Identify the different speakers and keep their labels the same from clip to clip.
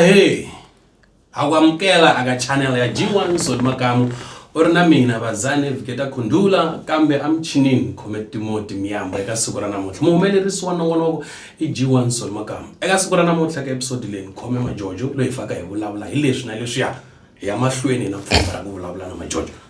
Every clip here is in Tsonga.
Speaker 1: ahe akwamukela aka channel ya g1 soli makamu u ri na mina vazane viketa khundula kambe amuchinini khome timoti miyamba eka siku ra namuntlha muhumelerisi wa nongonoko i g1 soli makamu eka siku ra namuntlha ka episodi leyi ni khome majojo loyi faka hi vulavula hi leswi na leswiya hi ya mahlweni na pfumba ra ku vulavula na majojo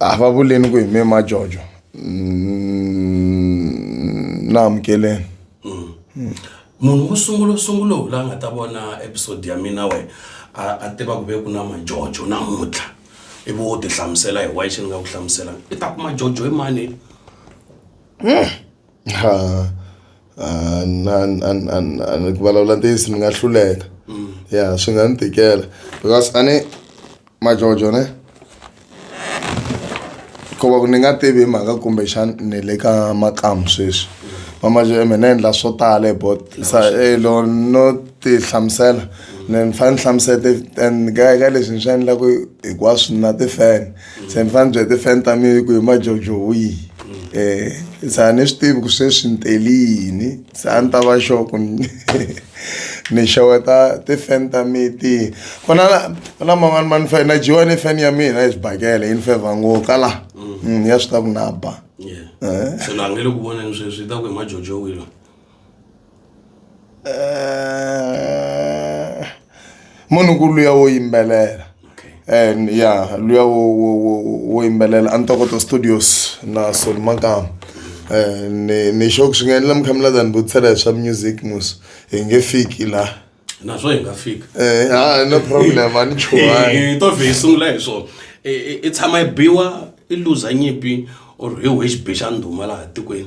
Speaker 2: a va vuleni ku hi me majojo mm, na amukeleni mm.
Speaker 1: munhu wo sungula sungula wu la nga ta vona episode ya mina we a tiva ku ve ku na majojo namuntlha ivi wo tihlamusela hi wayi xi ni nga ku hlamusela i ta ku majojo hi mani mm. Ha
Speaker 2: a na na na na ku vulavula ntiyiso ni nga hluleka ya swi nga ni tikela because a ni majojo ne ku va ku ni nga tivi hi mhaka kumbexana ni le ka makamu sweswi va majojo me ni endla swo tala hi bot sa elo no ti hlamusela ni fanele ni hlamusela ti and ka leswi ni swi endlaku hinkwaswo na ti-fan. se ni fanele byi ti-fan ta mi ku hi majojo wihi um se a ni swi tivi ku sweswi ni teli yini se a ni ta va xo ku ni xeweta ti-fan ta mi ti ku na ku na man'wani ma ni fe na dyiwa ni fan ya mina hi swibakele yi ni fevha ngo ka la mm. Mm, ya swi ta ku na ba eh. se na ngele
Speaker 1: ku voneni sweswi yi ta ku hi majojo wihi loyi
Speaker 2: Eh, munhu ku luya wo yimbelela and ya luya wo wo wo wo yimbelela a ntokoto studios na soli makama Eh, ni ni xoku swi nga endla mi kha mi lava ni vutisela hi swa music mus hi nge fiki laha naswo hi nga
Speaker 1: fika Eh, ha no
Speaker 2: problem a ni chuhangi Eh, to vhe yi sungula hi
Speaker 1: swona I- i- i tshama yi biwa i luza nyimpi or hi wihi xibi xa ndhuma laha tikweni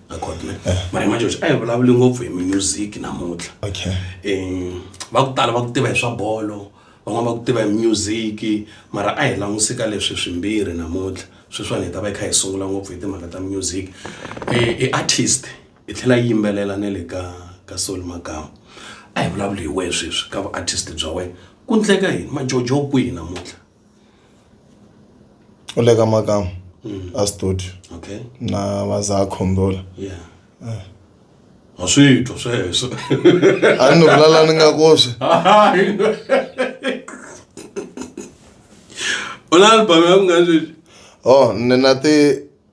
Speaker 1: mara imagine a hi vulavuli ngopfu hi music namuntlha okay um
Speaker 2: va
Speaker 1: ku tala va ku tiva hi swa bolo van'wana va ku tiva hi music mara a hi languse ka leswi swimbirhi namuntlha sweswiwani hi ta va hi kha hi sungula ngopfu hi timhaka ta music i artist hi tlhela yi yimbelela na le ka ka soul magama a hi vulavuli hi wehe sweswi ka vu artist bya wena ku ndleka yini majojo kwihi namuntlha
Speaker 2: u le ka makamu a studio okay na
Speaker 1: va za
Speaker 2: khombola yeah
Speaker 1: ha swi twa sweswo a ni
Speaker 2: vulala ni nga koswi
Speaker 1: u na album ya ku nga sweswi o ni na
Speaker 2: ti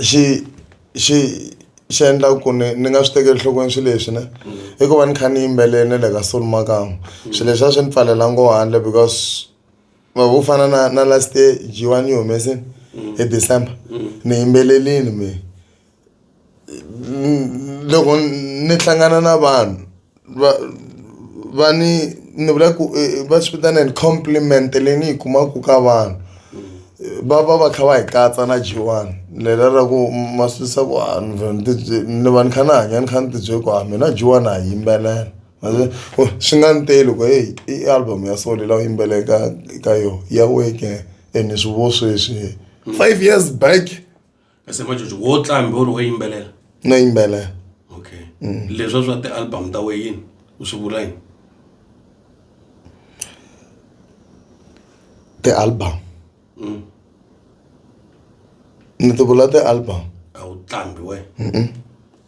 Speaker 2: xi xi xi endla ku ni ni nga swi tekeli enhlokweni swilo leswi ne i ku va ni kha ni yimbelela na le ka solo makamu swilo leswi a swi ni pfalela ngo handle because ma vo fana na na last year G_one yi humesini hi December ni yimbelelini mehe loko ni hlangana na vanhu. va va ni ni vula ku eh, eh, va swi vitana ni compliment leyi ni yi kumaka ka vanhu va va va kha va hi katsa na jiwani lela ra ku masisa ku ah, ni va ni kha ni hanya ni kha ni tibyele ku a ah, mina jiwani a yimbelela oh, swi nga ni te loko heyi i album ya so lela u yimbele ka ka yo ya weke ene swi vo sweswi five years back kasi majojo
Speaker 1: wo tlambi u ri wo yimbelela no yimbelela okay leswa swa ti-album ta we yini u swi vula yini
Speaker 2: ti-album Mm. ni ti vula ti-album a wu tlambi
Speaker 1: we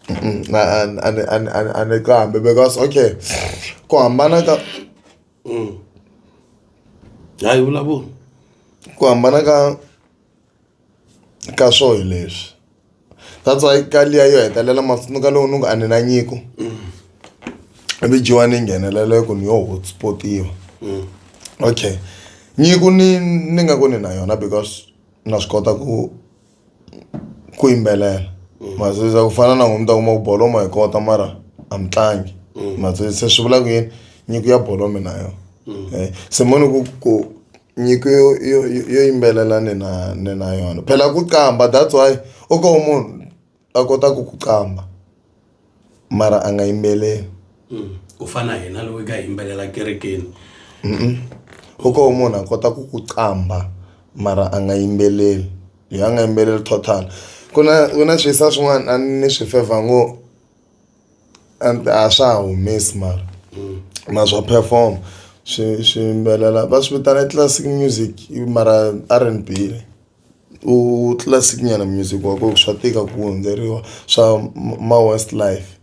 Speaker 1: Mm, na- a- a-
Speaker 2: ni- a- ni- a- ni- a ni qambi because okay ku hambana ka Mm.
Speaker 1: hayi vulavula ku
Speaker 2: hambana ka ka swo hi leswi that's why ka liya yo hetelela matsundzuka lowu ni ku a ni na nyiko ivi dyiwa ni nghenelela ku ni yo hotspotiwa mm. okay nyiko ni ni nga ku ni na yona because na swi kota ku ku yimbelela mm. masisa ku fana na n'wini ta kuma ku bolo ma yi kota mara a mi tlangi mm. masisa swi vula ku yini nyiko ya bolo mi na yona eh, se moni ku ku Nyiko yo yo yo yimbelela ni na ni na yona phela ku qambha that's why u ngo ho munhu a kotaka ku qambha mara a nga yimbeleli ku
Speaker 1: fana na hina loyi ka hi yimbelela kerekeni
Speaker 2: u ngo ho munhu a kota ku ku qambha mara a nga yimbeleli loyi a nga yimbeleli total ku na ku na swisa swin'wana a ni swi fevha ngo. A ni a swa ha humesi mara na swa perform-a swi swiyimbelela va swi vitana i classic music mara R_N_B u classic nyana music wa kona swa tika ku hundzeriwa swa ma west life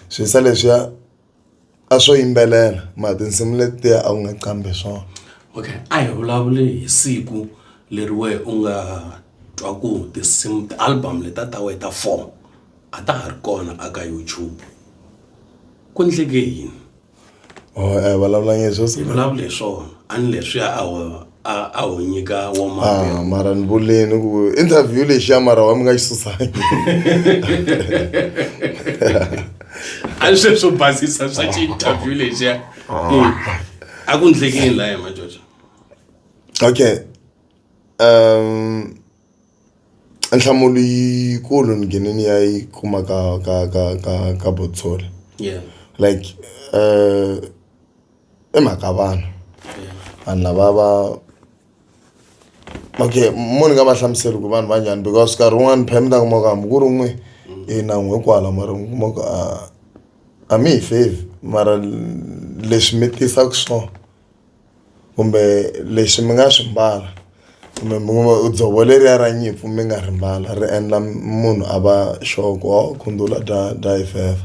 Speaker 2: swi yisa leswiya. a swo yimbelela mara tinsimu letiya a wu nga qambi hi swona okay a hi
Speaker 1: vulavuli hi siku leri wehe u nga twa ku tinsimu ti-album letiya ta wena ta four a ta ha ri kona a ka YouTube ku endleke yini or a
Speaker 2: hi vulavulanga hi sweswo hi vulavula hi swona
Speaker 1: a ni leswiya a wu. a a ho nyika wo maviri Ah, mara ni vuleni
Speaker 2: ku interview lexi ya mara wa mi nga yi susangi
Speaker 1: a ni sweswo basisa swa xi-interview lexiya Mm. a ku ndleke yini laya majojo
Speaker 2: okay um nhlamulo yikulu ni gene ni ya yi kuma ka ka ka ka ka botsori yeah like uh, I mhaka vanhu vanhu lava va okay mo ni nga va hlamuseli ku vanhu va njhani because nkarhi wun'wani phela mi ta kuma ku hambi ku ri n'we i na n'we kwala mara mi kuma ku a a mi hi fevhi mara leswi mi tisaka swona kumbe leswi mi nga swi mbala kumbe mi kuma dzovo leriya ra nyimpfu mi nga ri mbala ri endla munhu a va sure ku hawu khundzu la dlaya dlaya hi fevha .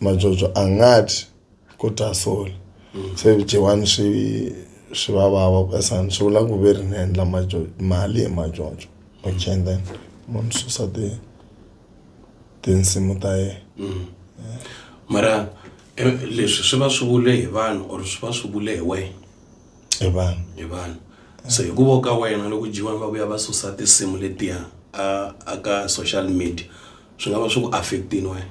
Speaker 2: majojo a nga dyi ko dya sole se vudyewani swi swi va vava ku esani swi vula ku ve ri ni endla majojo mali hi majojo okay and then munhu susa ti tinsimu ta yena
Speaker 1: mara eh, leswi swi va swi vule hi vanhu or swi va swi vule hi wena hi vanhu
Speaker 2: hi vanhu so
Speaker 1: hi ku vo ka wena loko jiwani va vuya va susa tinsimu letiya a a ka social media swi nga va swi ku affectini wena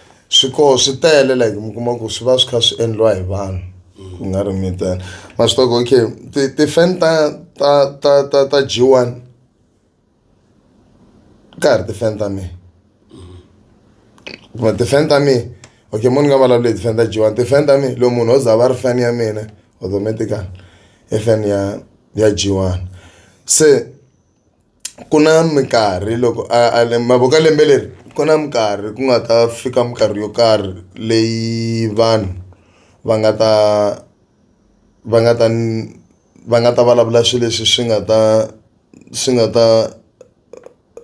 Speaker 2: swikoho swi tele like mi kuma ku swi va swi kha swi endliwa hi vanhu ku nga ri mitana ma swi toko okay ti-fan ta ta ta ta ta g one ka ha ri ti-fan ta mina kuma ti-fan ta mina okay munhu nga vulavuli hi ti-fan ta g one ti-fan ta mina loyi munhu o za va ri fan ya mina automatically i fan ya ya g one se ku na minkarhi loko a a mavoko ya lembe leri ku na minkarhi ku nga ta fika minkarhi yo karhi leyi vanhu va nga ta va nga ta va nga ta vulavula swilo leswi swi nga ta swi nga ta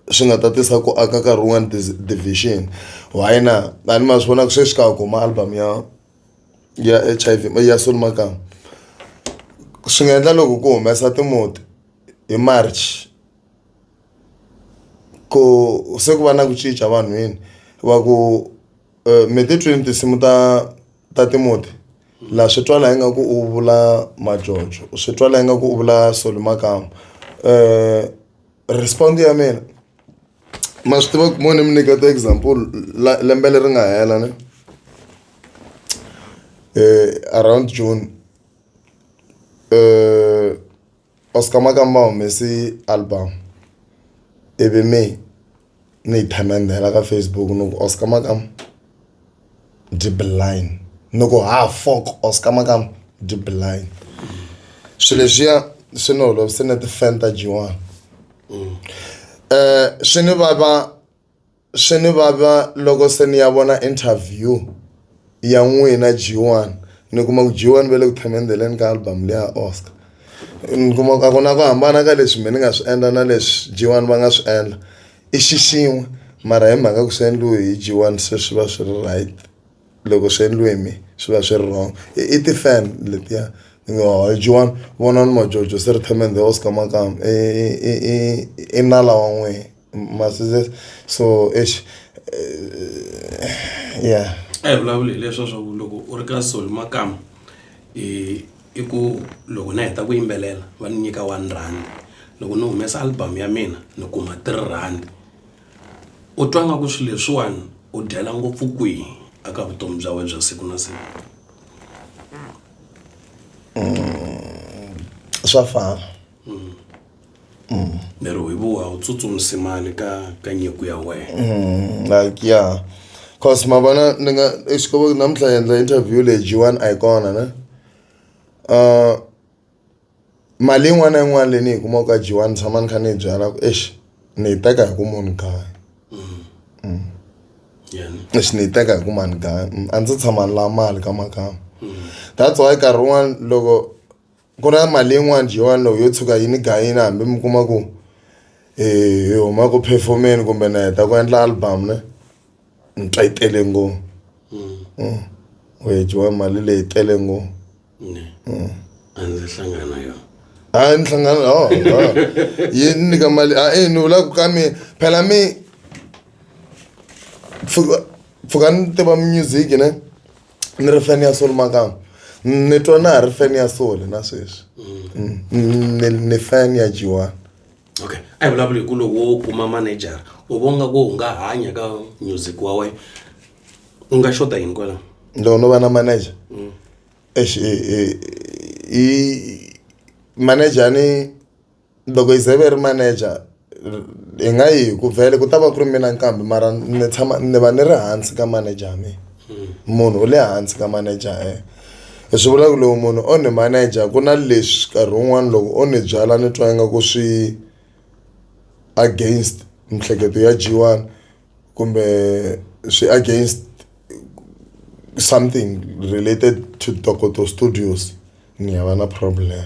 Speaker 2: swi nga ta tisa ku aka nkarhi wun'wani division why na a ni ma swi vona ku sweswi ka ha ku huma album ya ya H_I_V ya Solly Makambu swi nga endla loko ku humesa timoni. hi March ku se ku va na ku cinca vanhwini va ku me ti twini tinsimu ta ta Timoti la swi twa la ingaku u vula Majojo u swi twa la ingaku u vula Solly Makamu respond ya mina ma swi tiva ku mo ni mi nyiketa example la lembe leri nga hela ne around June . Oscar Makamba o humese album ivi me ni yi themendhela ka Facebook ni ku Oscar Makamba the blind ni ku ha fok Oscar Makamba the blind swilo leswiya swi ni holovise na ti-fan ta G one swi ni vava. swi ni vava loko se ni ya vona interview ya n'wina G1 ni kuma ku G1 va le ku themendheleni ka album leya Oscar ni kuma ku a ku na ku hambana ka leswi mina ni nga swi endla na leswi G1 va nga swi endla i xi xin'we mara hi mhaka ku swi endliwe hi G1 se swi va swi ri right loko swi endliwe hi mehe swi va swi ri wrong i ti-fan letiya ni ngo hayi G1 vonani majojo se ri themendhe Oscar makamu i i i i i nala wa n'wina. masizes so eish eh, yeah a hi vulavuli hi leswo
Speaker 1: swa ku loko u ri ka sol makama i i ku loko na heta ku yimbelela va ni nyika one rand loko ni humesa album ya mina ni kuma three rand u twa nga ku swilo leswiwani u dyela ngopfu kwihi aka vutomi bya wena bya siku na siku
Speaker 2: swa fana
Speaker 1: mm. lero hi vuwa u tsutsumisimani ka ka nyiko ya wena mm, like yeah
Speaker 2: cause ma vona ni nga exikovo namuntlha hi endla interview leyi jiwani a yi kona ne uh, mali yin'wana na yin'wana leyi ni yi kumaka ka jiwani ni tshama ni kha ni yi byala ku exi ni yi teka hi ku munhu kaya lexi ni yi teka hi ku mani gaya a ndzi tshama ni la mali ka makama that's why nkarhi wun'wani loko Ku na mali yin'wani Joni loko yo tshuka yi ni gayini hambi mi kuma ku hi huma ku perform-eni kumbe na heta ku endla album ne ni twa yi tele ngopfu wehe Joni mali leyi tele ngopfu
Speaker 1: a ndzi hlangana na yona a ni hlangana
Speaker 2: ho yi ni nyika mali a e ni vula ku ka mi phela mi pfuka pfuka ni tiva music ne. ni ri fan ya soul makama ni twa na ha ri fan ya soul na sweswi mm. Mm, ni ni fan ya jiwana okay a
Speaker 1: hi vulavuli hi ku loko wo kuma manager u vonga ku u nga hanya ka music wa wena u nga xota yini kwalaho loko no va na
Speaker 2: manager Mm. exi i manager ni Loko hi ze ve ri manager hi nga yi hi ku vhele ku ta va ku ri mina nkambi mara ni tshama ni va ni ri hansi ka manager ya mina munhu u le hansi ka manager ya yena hi swi vula ku lowu munhu o ni manager ku na leswi nkarhi wun'wani loko o ni byala ni twa ingaku swi against miehleketo ya G one kumbe swi against something related to Tokoto studios ni hava na problem.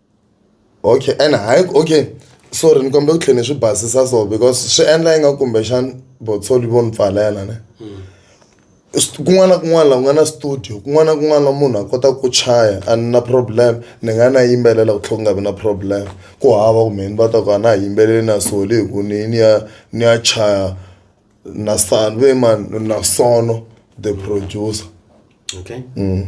Speaker 2: Okay and hayi okay sorry ni kombela ku tlhela ni swi basisa so because swi endla ingaku kumbexana botsholi vo ni pfalela ne kun'wana na kun'wana laha ku nga na studio kun'wana na kun'wana la munhu a kotaka ku chaya a ni na problem ni nga na yimbelela ku tlhela ku nga vi na problem ku hava ku mehe ni va ta ku a na ha yimbeleli na soli hi ku ni ni ya ni ya chaya. na san ve man na sono the producer okay
Speaker 1: mm.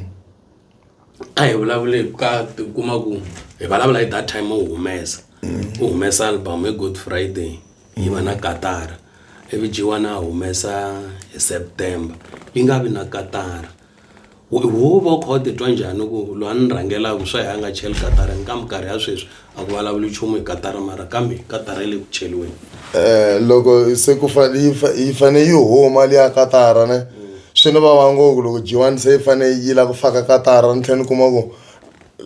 Speaker 1: a hi vulavule ka kuma ku hi vulavula hi that time u humesa mm. u humesa album hi good friday yi va na katara ivi jiwana a humesa hi september yi nga vi na katara Huvo u kha u titwa njhani ku loyi a ni rhangelaka swa hi a nga cheli katara ni kambe karhi ya sweswi a ku vulavuli nchumu hi katara mara kambe katara yi le ku cheliweni eh loko
Speaker 2: se ku fane yi fa yi fane yi huma liya katara ne swi ni vava ngopfu loko jiwani se yi fane yi la ku faka katara ni tlhela ni kuma ku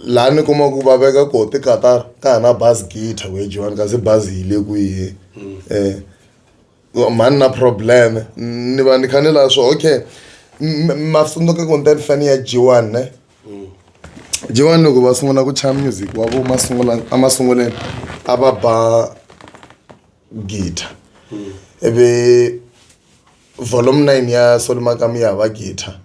Speaker 2: laha ni kuma ku va veka ko ti katara ka ha na bazi githa ku ya jiwani kasi bazi yi le kwihi um. mhani na problem ni va ni kha ni laha swo okay masunduka ku nte ni fane ya jiwani ne jiwani loko va sungula ku chaya music wa vo masungula emasunguleni a va ba guitar ivi volume nine ya solomakamu ya hava guitar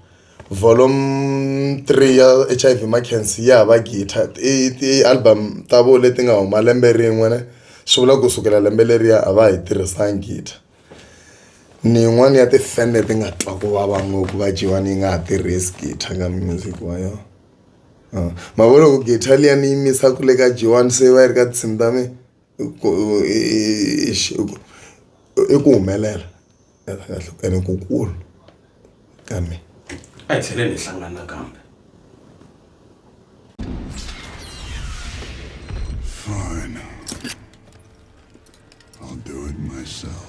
Speaker 2: Volume three ya H_I_V Makhensi ya ha va gidlha i ti-album ta vona leti nga huma lembe rin'we ne swi vula ku sukela lembe leriya a va ha yi tirhisanga gidlha ni yin'wani ya ti-fan leti nga twa ku vava ngopfu va dyiwa ni yi nga ha tirhisi gidlha ka music wa yona ma vo loko gidlha liya ni yimisa ku le ka G one se yi va yi ri ka tinsimu ta mina. ku i ku humelela ene ku kulu ka mina a hi tlheleni
Speaker 1: hi hlangana nakambe
Speaker 3: Fine. I'll do it myself.